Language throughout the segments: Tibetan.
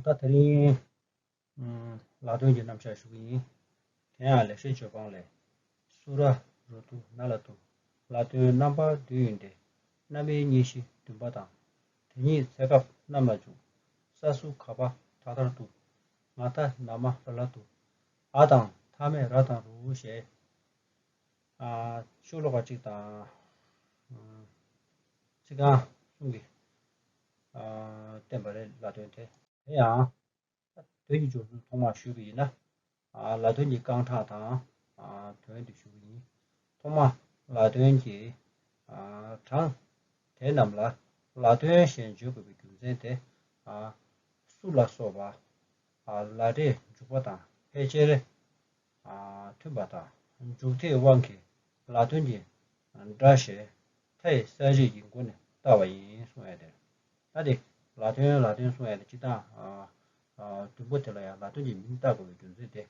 ད་དེ་རིང་ལག་འདོན་གྱི་རྣམ་གཞག་ཞུ་གི་ཡིན། དེ་ཡང་ལེགས་བཤད་བརྗོད་སྤང་ལས། སུ་ར་རུ་དུ་ན་ལ་དུ། ལ་དོན་རྣམ་པ་བདུན་ཡིན་ཏེ། སྣ་མའི་གཉིས་བཞི་བདུན་པ་དང། དེ་གཉིས་ཚད་སྐབས་རྣམས་ལ་འཇུག། ས་སུ་ག་པ་ཐ་དར་དུ། ང་ཐ་ན་མ་ར་ལ་དུ། ཨ་དང་ཐ་མས་ར་དང་རུ་ཞེས། ཤུགས་ལོག་པ་གཅིག་དང། གཅིག་གང་གསུམ་གྱི། བསྟན་པ་རེད་ལ་དོན་དེ། དེ་ཡང། དོན་གྱི་སྦྱོར་ཚུལ་ཐོག་མར་ཞུས་པ་ཡིན་ན། ལ་དོན་གྱི་རྐང་གྲངས་དང། དོན་དུ་ཞུ་བ་ཡིན། ཐོག་མ། ལ་དོན་གྱི། གྲངས། དེ་རྣམས་ལ། ལ་དོན་གཞན་བརྗོད་དགོས་པའི་རྒྱུ་མཚན་དེ། སུ་ལ་སོགས་པ། ལ་སྒྲའི་འཇུག་པ་དང་ཕལ་ཆེར། མཐུན་པ་དང། འཇུག་དེའི་དབང་གིས་ལ་དོན་གྱི། སྒྲ་ཞེས། མཐའ་ཡི་ས་རིས་ཀྱི་མགོ་ནས་བལྟ་བ་ཡིན་གསུང་བས་དེར། ལྷ་དེས། ལ་དོན་ལ་དོན་གསུང་བས་དེ་ཅི་ལྟ་ཨང། དུམ་བུ་དེ་ལ་ཡང་ལ་དོན་གྱི་མིང་བཏགས་དགོས་པའི་རྒྱུ་མཚན་དེ།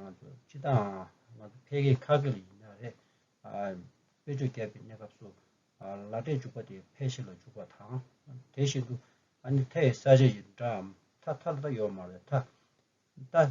ང་ཚོ་ཅི་ལྟ་ཨང། ང་ཚོ་ཕལ་སྐད་ཁ་སྐད་ལ་ཡིན་ན་རེད། དཔེ་ཆོས་བརྒྱབ་པའི་གནས་སྐབས་སུ། ལ་སྒྲས་འཇུག་པ་དེ་ཕལ་ཞིག་ལ་འཇུག་པ་དང། དེ་བཞིན་དུ། ཨ་ནི་མཐའ་ཡི་ས་རིས་ཡི་སྒྲའམ་མཐའ་མཐའ་ལ་ད་ཡོད་མ་བའི་མཐའ། མཐའ།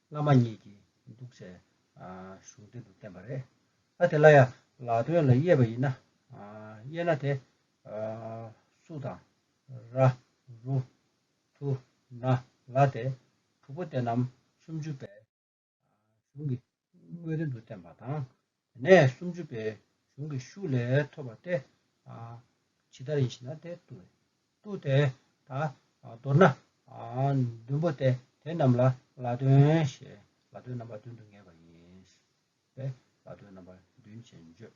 བླ་མ་ཉིད་ཀྱིས་འདུག་སའི་གཞུང་དོན་དུ་བསྟན་པ་རེད། ཨ་དེ་ལ་ཡང་ལག་དོན་ལ་དབྱེ་བ་ཡིན་ན། དབྱེ་ན་དེ། སུ་དང། ར། རུ། དུ། ན། ལ་སྟེ། དྲུག་པོ་དེ་རྣམས་སུམ་ཅུ་པའི་གཞུང་གི་དངོས་དོན་དུ་བསྟན་པ་དང། དེ་ནས་སུམ་ཅུ་པའི་གཞུང་གི་ཤུགས་ལས་ཐོབ་པ་སྟེ། ཇི་ལྟར་ཡིན་ཞེ་ན་དེ་ཏུ། ཏུ་དེ་དག་མདོར་ན། བདུན་པོ་སྟེ་དེ་རྣམས་ལ་ལ་དོན་ཞེས་ལ་དོན་རྣམ་པ་བདུན་དུ་ངེས་པ་ཡིན། པས་ལ་དོན་རྣམ་པ་བདུན་ཅེས་བརྗོད།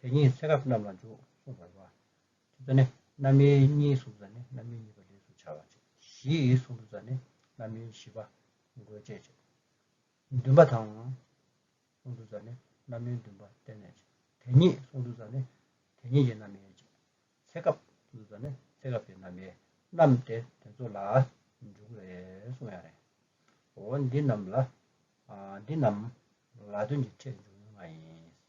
དེ་གཉིས་ཚེ་རབས་རྣམས་ལ་འཇུག་གསུངས་པར་བ། ཅུ་ཙཱ་ནི། རྣམ་སྨིན་གཉིས་སུམ་ཙཱ་ནི་རྣམ་སྨིན་གཉིས་པ་ལས་སུ་བྱ་བ། བཞི་ཡི་སུམ་ཙཱ་ནི་རྣམ་སྨིན་བཞི་པ། འགོས་སྤྱད་བྱེད། བདུན་པ་དང། སུམ་ཙཱ་ནི་རྣམ་སྨིན་བདུན་པ་བརྟེན་ནས་བྱེད། དེ་གཉིས་སུམ་ཙཱ་ནི་དེ་གཉིས་ཀྱི་རྣམ་སྨིན་བྱེད། ཚེ་སྐབས་སུམ་ཙཱ་ནི་ཚེ་སྐབས་ཀྱི་རྣམ་སྨིན་རྣམས་ཏེ་དེ་ཚོ་ལ་འཇུག་རེ་གསུངས་ཡང་རེ། འོ་འདི་རྣམས་ལ། འདི་རྣམས་ལ་དོན་གྱི་ཕྲད་འཇུག་ཡུལ་ལྔ་ཡིན།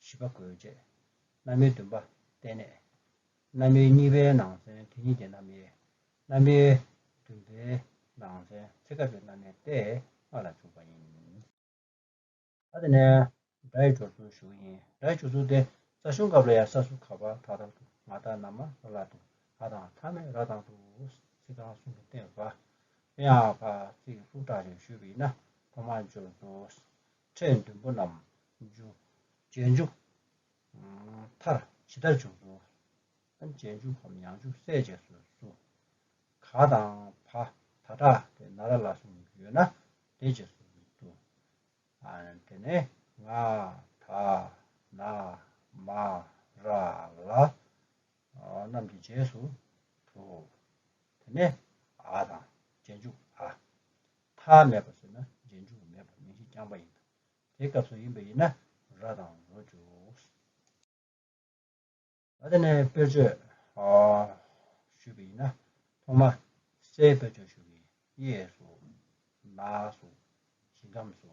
བཞི་པ་གོས་བཅས། བླ་མའི་འདུན་པ་བརྟན་གནས། བླ་མའི་གཉིས་པའི་ནང་ཚན་དེ་གཉིས་ཀྱི་རྣམ་དབྱེ། བླ་མའི་བདུན་པའི་ནང་ཚན་ཚེ་སྐབས་ཀྱི་རྣམ་དབྱེ་སྟེ་ལྔ་ལ་འཇུག་པ་ཡིན། ད་ནས་སྒྲ་ཡི་སྦྱོར་ཚུལ་ཞུ་ཡིན། སྒྲ་ཡི་སྦྱོར་ཚུལ་དེ་རྩ་གཞུང་སྐབས་ལ་ཡང་ས་སུ་ཁ་བ་ཐག་ཐག་ཏུ་ང་དང་ན་མ་ལ་ལ་དུ་ཨ་དང་ཐ་མས་ར་དང་དུ་སི་དང་སུ་དུ་སྟེ་བ་དབྱངས་ཕ་ཚིག་ལྷུག་དྲག་ཅིག་ཞུས་པ་ཡིན་ན་ཐོག་མར་སྦྱོར་དགོས། ཕྲད་བདུན་པོ་རྣམས་འཇུ། རྗེས་འཇུག། མཐར། ཇི་ལྟར་འཇུག། རྫོགས། རྗེས་འཇུག་གམ་ཡང་འཇུག་གསལ་བྱེད་སུ། གཟུགས། ག། དང། བ། ད། དྲག། དེ། ན་ར་ལ་གསུམ་ཡོད་ན། དེ་རྗེས་སུ། དུ། དེ། ནས། ང། ད། ན། མ། ར། ལ། རྣམས་ཀྱི་རྗེས་སུ། དུ། དེ། ནས། ཨ། དང། རྗེས་འཇུག། ཨ། མཐའ་མེད་པ་ཟེར་ན་རྗེས་འཇུག་མེད་པར་མིང་གཞི་རྐྱང་པ་ཡིན་ལ། དེ་སྐབས་སུ་ཡིན་པ་ཡིན་ན་ར་དང་རོ་འཇུག། ད་ནས་དཔེར་བརྗོད་ཞུས་པ་ཡིན་ན་ཐོག་མ་སའི་དཔེར་བརྗོད་ཞུ་གི་གཡས་སུ། ནགས་སུ། ཞིང་ཁམས་སུ།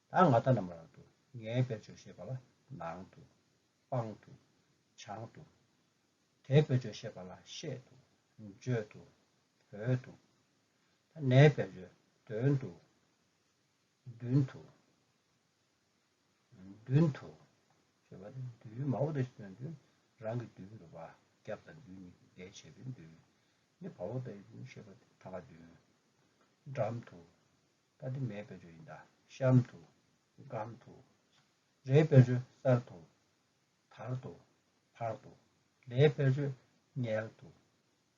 ད་ང་ལྟ་རྣམས་རང་དུ་ངའི་དཔེར་བརྗོད་ཤེས་པ་ལ་ནང་དུ། པང་དུ། བྱང་དུ། དེའི་དཔེར་བརྗོད་ཤེས་པ་ལ་ཤེད་དུ། འཇོད་དུ། བོད་དུ། ད་ནའི་དཔེར་བརྗོད་དོན་དུ། མདུན་དུ། མདུན་དུ། ཞེས་པ་ནི་མདུན་མ་བོ་དང་ཞེས་པའི་མདུན་རང་གི་མདུན་དུ་བ་རྒྱབ་དང་མདུན་གཉིས་ཀྱི་འགལ་བྱེད་པའི་མདུན་ནི་བ་བོ་དང་ཞེས་པ་དེ་ཐ་མ་མདུན། འགྲམ་དུ། ཀ་དེ་མའི་དཔེར་བརྗོད་ཡིན་གདའ། གཤམ་དུ། སྒམ་དུ། རའི་དཔེར་བརྗོད་གསར་དུ། དར་དུ། བར་དུ། ལའི་དཔེར་བརྗོད་མངལ་དུ།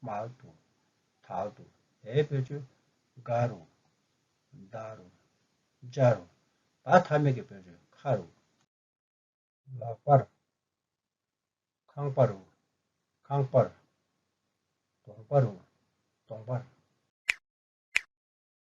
མལ་དུ། དལ་དུ། བའི་དཔེར་བརྗོད་སྒ་རུ། མདའ་རུ། འཇའ་རུ། བ་ཐ་མི་གི་དཔེར་བརྗོད་ཁ་རུ། ལག་པ་རུ། ཁང་པ་རུ། ཁང་པར། གདོང་པ་རུ། གདོང་པར།